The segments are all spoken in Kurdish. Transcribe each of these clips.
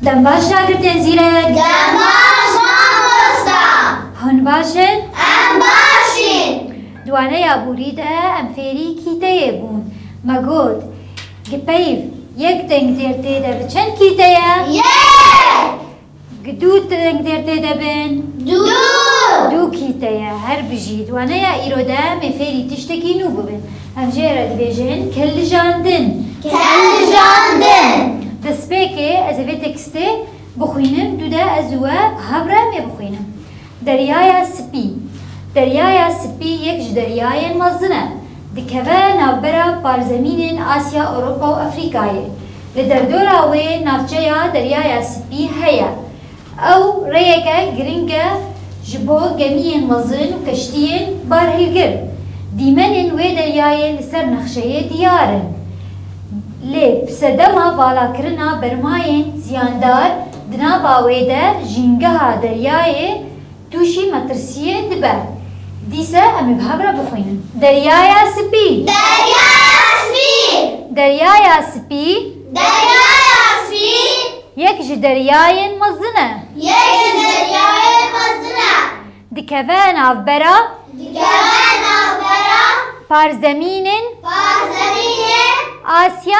Dembaş şagirtên zîrek. Dembaş mamosta. Hûn baş in? Em baş in. Di waneya borî de em fêrî kîteyê bûn. Me got, Gi peyv yek deng dêr tê de bi çend kîte ye? Yek! Gi du teng dêr tê de bin. Du. Du kîte ye. Her bijî. Di waneya îro de em ê fêrî tiştekî nû bibin. Em jê re dibêjin kellijandin. Kellijandin. Destpêkê ez ê vê tekstê bixwînim, du de ez û we hev re em ê bixwînin. Deryaya Spî Deryaya Spî yek ji deryayên mezin e. Dikeve navbera parzemînên Asya, Ewropa û Efrîkayê. Li derdora wê navçeya Deryaya Spî heye. Ew rêyeke giring e ji bo gemiyên mezin û keştiyên barhilgir. Dîmenên wê deryayê li ser nexşeyê diyar in. Lê bi sedema valakirina bermayên ziyandar Di nava wê de jîngeha deryayê tûşî metirsiyê dibe. Dîse em ê bi hev re bixwînin. Deryaya Sipî. Deryaya Sipî. Deryaya Sipî. Deryaya Sipî. Yek ji deryayên mezin e. Yek ji deryayên mezin e. Dikeve navbera. Dikeve navbera. Parzemînên. Parzemînên. Asya.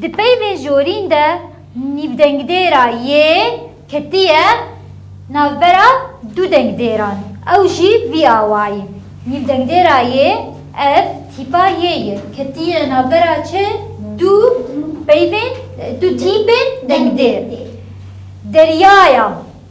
Di peyvên jorîn de nîvdengdêra y ketiye navbera du dengdêran. Ew jî vî awayî, Nîvdengdêra y ev tîpa y ye ketiye navbera çi du peyvên, du tîpên dengdêr. Deryaya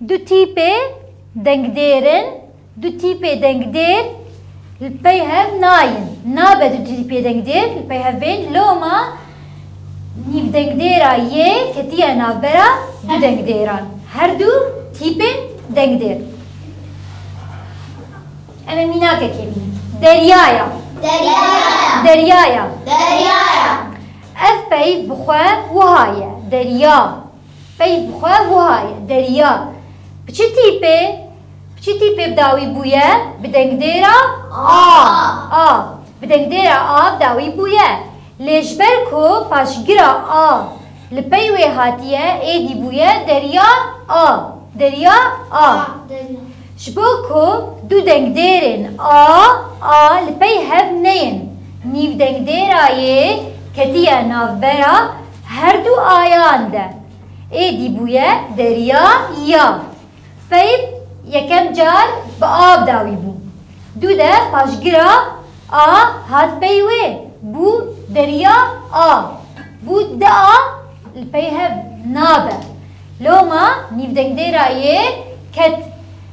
Du tîpê dengdêrin, du tîpê dengdêr li pey hev nayîn. Nabe du tîpê dengdêr li pey hev bên. Loma nîvdengdêra yê ketiye navbera du dengdêran. Her du tîpên dengdêr. Em ê mînakekê bînin. Deryaya. Deryaya. Deryaya. Deryaya. Ev pey bi xwe wiha ye. Derya. Peyv bi xwe wiha ye, Derîya bi çi tîpê bi çi tîpê bi dawî bûye? Bi dengdêra a a bi dengdêra a bi dawî bûye. Lê ji ber ku paşgira a li pey wê hatiye êdî bûye derîya a, derîya a. Ji bo ku du dengdêrên a a li pey hev neyên, nîvdengdêra yê ketiye navbera Her du ayan de êdî bûye deriya ya. Peyv yekem car bi av dawî bû. Du de paşgira a hat pey wê bû deriya a. Bû di a li pey hev nabe. Loma nîvdengdêra yê ket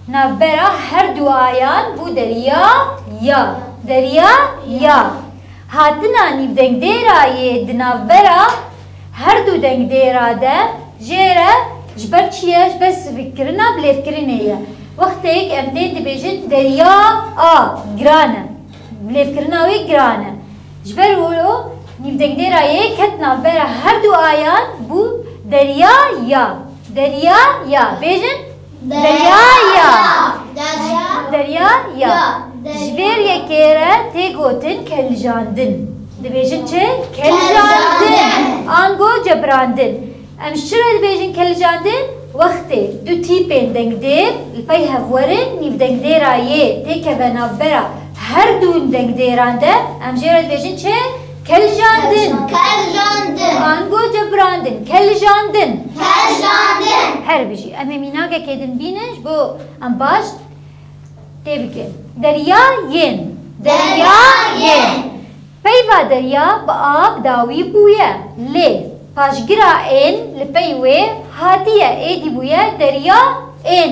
navbera her du ayan bû deriya ya. Deriya ya. Hatina nîvdengdêra yê di navbera her du dengdêra de jê re ji ber çi ye? Ji ber sivikkirina bilêvkirinê ye. Wextêk em tên dibêjin derya a giran e, bilêvkirina wê giran e. Ji ber wilo nîvdengdêra yê ket navbera her du ayan bû derya ya. Derya ya. Bêjin. Derya ya. Derya ya. Ji vêr yekê re tê gotin keljandin. Dibêjin çi? Keljandin. Ango cebrandin. Em ji çi re dibêjin keljandin? Wextê du tîpên dengdêr li pey hev werin nîvdengdêra yê têkeve navbera her dûn dengdêran de em jê re dibêjin çi? Keljandin. Keljandin. Ango cebrandin. Keljandin. Keljandin. Her bijî. Em ê mînakekê din bînin ji bo em baş tê bikin. Derya yên. Derya yên. Peyva derya bi ab dawî bûye. Lê paşgira ên li pey wê hatiye êdî bûye derya ên.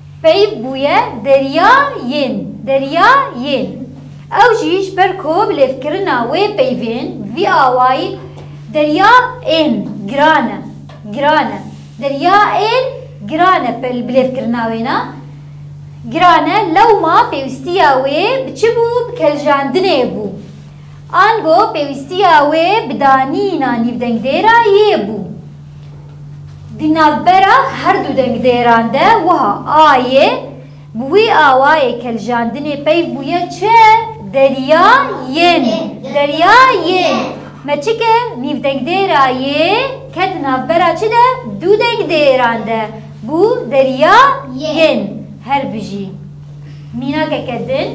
Peyv bûye derya yên derya yên. Ew jî ji ber ku lêvkirina wê peyvên vî awayî derya ên giran e giran e derya ên giran e bi lêvkirina wê ne giran e lewma pêwîstiya wê bi çi bû bi keljandinê bû ango pêwîstiya wê bi danîna nîvdengdêra yê bû. Di navbera her du dengdêran de wiha ayê, Bi wî awayê keljandinê peyv bûye çi? Derya yên. Derya yên. Me çike nîvdengdêra yê ket navbera çi de? Du dengdêran de. Bû derya yên. Her bijî. Mînakeke din,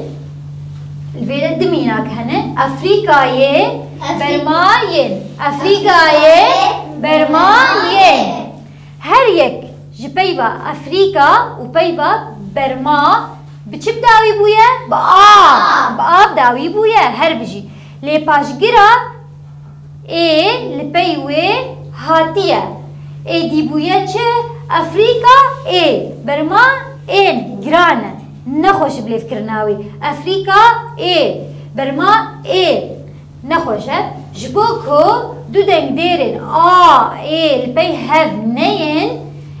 li vê de du mînak hene, Efrîkayê Bermayên, Efrîkayê Bermayên. Her yek ji peyva Efrîka û peyva Berma bi çi bi dawî bûye? Bi a, bi a bi dawî bûye, her bijî. Lê paşgira Ê li pey wê hatiye. Êdî bûye çi? Efrîka ê berma ên giran e. Nexweşi bi lêvkirina wî. Efrîka ê berma ê nexweş e. Ji bo ku du dengdêrên a, ê li pey hev neyên,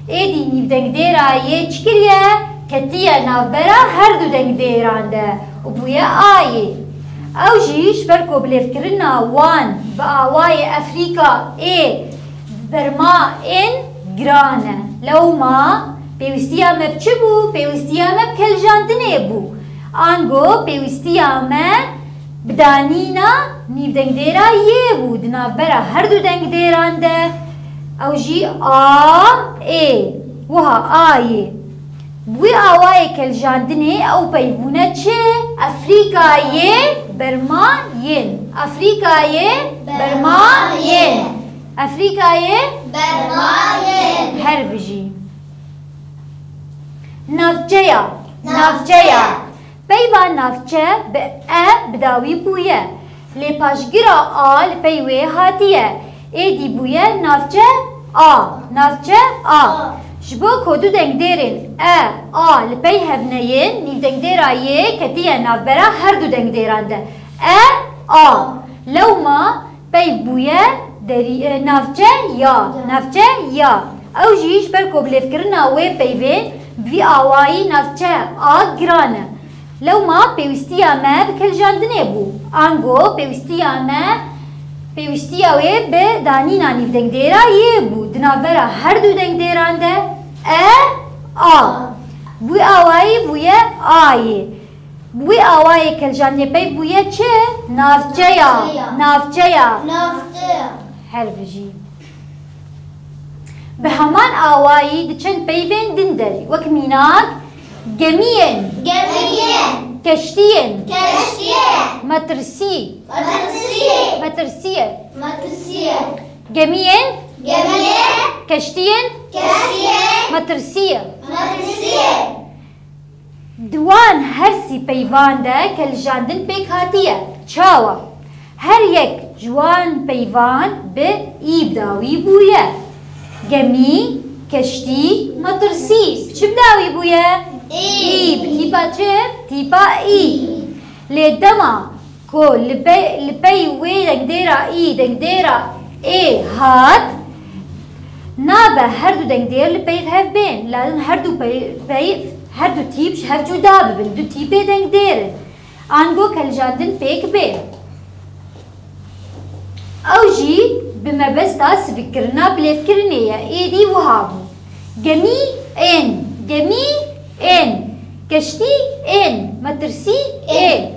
Êdî nîvdengdêra yê çi kiriye, ketiye navbera her du dengdêran de û bûye a yê. Ew jî ji ber ku bilêvkirina wan bi awayê Efrîka ê bi berma ên giran e. Lewma pêwîstiya me bi çi bû? Pêwîstiya me bi keljandinê bû. Ango pêwîstiya me bi danîna nîvdengdêra yê bû di navbera her du dengdêran de. Ew jî a, ê, wiha a yê. Bi wî awayê keljandinê ew peyvûne çi? Efrîka yê berma yên. Efrîka yê berma yên. Efrîka yê berma yên. Her bijî. Navçeya. Navçeya. Peyva navçe bi e bi dawî bûye, lê paşgira a li pey wê hatiye, êdî bûye navçe, a, navçe, a. Ji bo ku du dengdêrên e, a li pey hev neyên, nîvdengdêra yê ketiye navbera her du dengdêran de, e, a. Lewma. Peyv bûye derî navçe ya navçe ya. Ew jî ji ber ku bilêvkirina wê peyvê bi vî awayî navçe a giran e. Lewma pêwîstiya me bi kiljandinê bû. Ango pêwîstiya me pêwîstiya wê bi danîna nîvdengdêra yê bû. Di navbera her du dengdêran de e, a. Bi wî awayî bûye ayê. Bi wî awayî Keljaniyê peyv bûye çi? Navçeya. Navçeya. Navçeya. Her bijî. Bi heman awayî di çend peyvên din derî wek mînak, gemiyên. Gemiyên. Keştiyên. Keştiyên. Metirsî. Metirsî. Metirsiyê. Metirsiyê. Gemiyên. Gemiyên. Keştiyên. Keştiyên. Metirsiyê. Metirsiyê. Di wan her sî peyvan de keljandin pêk hatiye. Çawa? Her yek ji wan peyvan bi î dawî bûye. Gemî, keştî, metirsî bi çi bi dawî bûye? Î bi tîpa çi? Tîpa î. Lê dema Ku li pey li pey wê dengdêra î dengdêra ê hat, nabe her du dengdêr li peyv hev bên, lazim her du pey peyv her du tîp ji hev cuda bibin, du tîpê dengdêr in. Ango keljandin pêk bê. Ew jî bi mebesta sivikkirina bilêvkirinê ye, êdî wiha bû, Gemî ên, gemî ên, keştî ên, metirsî ê.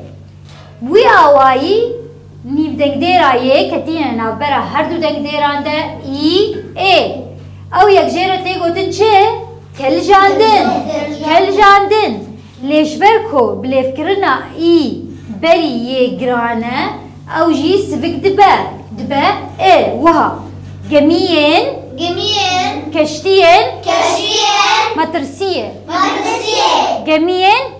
Wî awayî nîvdengdêra yê ketîne navbera her du dengdêran de î, ê. Ew yekjê re tê gotin çi? Keljandin. Keljandin. Lê ji ber ku bilêvkirina î berî yê giran e, ew jî sivik dibe, dibe, ê. Wiha, Gemiyên. Gemiyên. Keştiyên. Keştiyên. Metirsiyê. Metirsiyê. Gemiyên.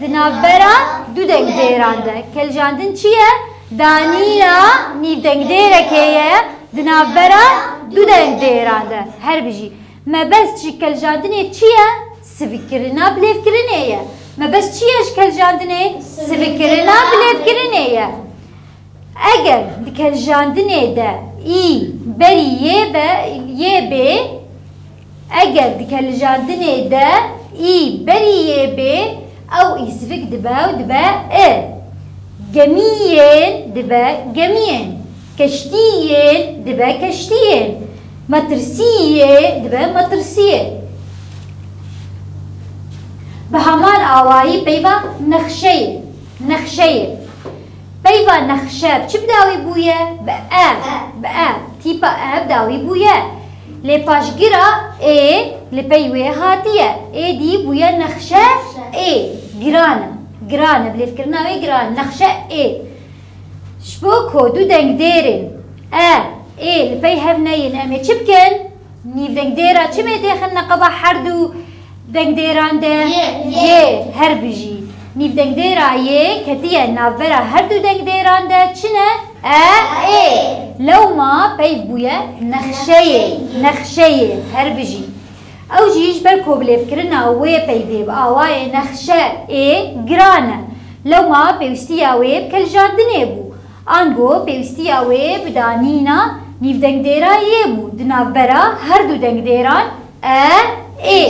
Di navbera du dengdêran de keljandin çi ye? Danîna nîvdengdêrekê ye di navbera du dengdêran de. Her bijî. Mebest ji keljandinê çi ye? Sivikirina bilêvkirinê ye. Mebest çi ye ji keljandinê? Sivikirina bilêvkirinê ye. Eger di keljandinê de î berî yê be yê bê Eger di kelijandinê de î berî yê bê ew î sivik dibe û dibe i. Gemîyên dibe gemîyên. Keştîyên dibe keştîyên. Metirsîyê dibe metirsîyê. Bi heman awayî peyva nexşeyê, nexşeyê. Peyva nexşe bi çi bi dawî bûye? Bi e, bi e, tîpa e bi dawî bûye. Lê paşgira ê li pey wê hatiye. Êdî bûye nexşe ê. Giran e. Giran e. Bilêvkirina wê giran e. Nexşe ê. Ji bo ku du dengdêrên e, ê li pey hev neyên em ê çi bikin? Nîv dengdêra çimê tê xin neqeba herdû dengdêran de yê her bijî. Nîv dengdêra yê ketiye navbera herdû dengdêran de çi ne? E, ê. Lewma peyv bûye nexşeyê, nexşeyê, her bijî. Ew jî ji ber kobilêvkirina wê peyvê bi awayê nexşe ê giran e. Lewma pêwîstiya wê bi keljandinê bû. Ango pêwîstiya wê bi danîna nîvdengdêrayê bû di navbera her du dengdêran e, ê.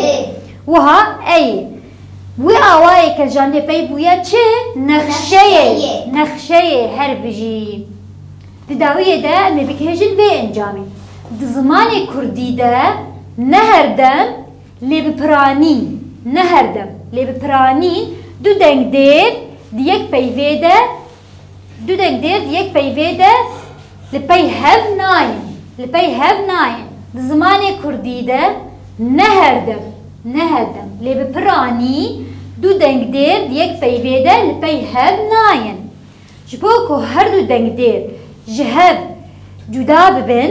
Wiha eyê. Bi wê awayê kecandê pey bûye çi? Nexşeyê, nexşeyê her bijî. Di dawiyê de em ê bigihêjin vê encamê. Di zimanê kurdî de ne her dem lê bi piranî, ne her dem lê bi piranî du dengdêr di yek peyvê de Du deng dêr di yek peyvê de li pey hev nayên. Li pey hev nayên. Di zimanê kurdî de ne her dem, ne her dem lê bi piranî du deng dêr di yek peyvê de li pey hev nayên. Ji bo ku her du deng dêr ji hev cuda bibin,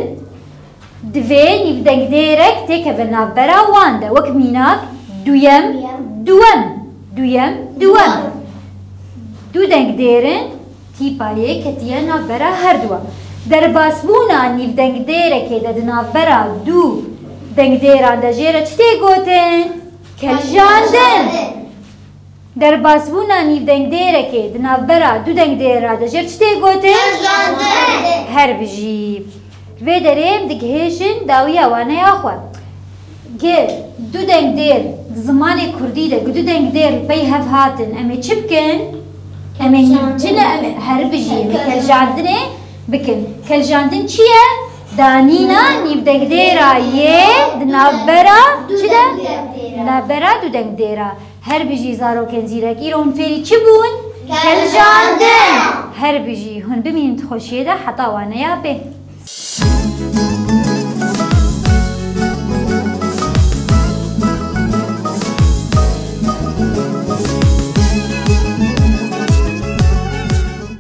Divê nîvdengdêrek têkeve navbera wan de wek mînak duyem, duwem, duyem, duwem. Du dengdêr in tîpa yê ketiye navbera her du wan. Derbasbûna nîvdengdêrekê de di navbera du dengdêran de jê re çi tê gotin? Kelijandin. Derbasbûna nîvdengdêrekê di navbera du dengdêr ra de jêr çi tê gotin? Her bijî. Vê derê em digihêjin dawiya waneya xwe. Gi du dengdêr di zimanê kurdî de gi du dengdêr li pey hev hatin em ê çi bikin? Em ê nîvcine em ê her bijî em ê keljandinê bikin. Keljandin çi ye? Danîna nîvdengdêra yê di navbera çi de? Di navbera du dengdêra. Her bijî zarokên zîrek îro hûn fêrî çi bûn? Kevjandin! Her bijî hûn bimînin di xweşiyê de heta waneya bê.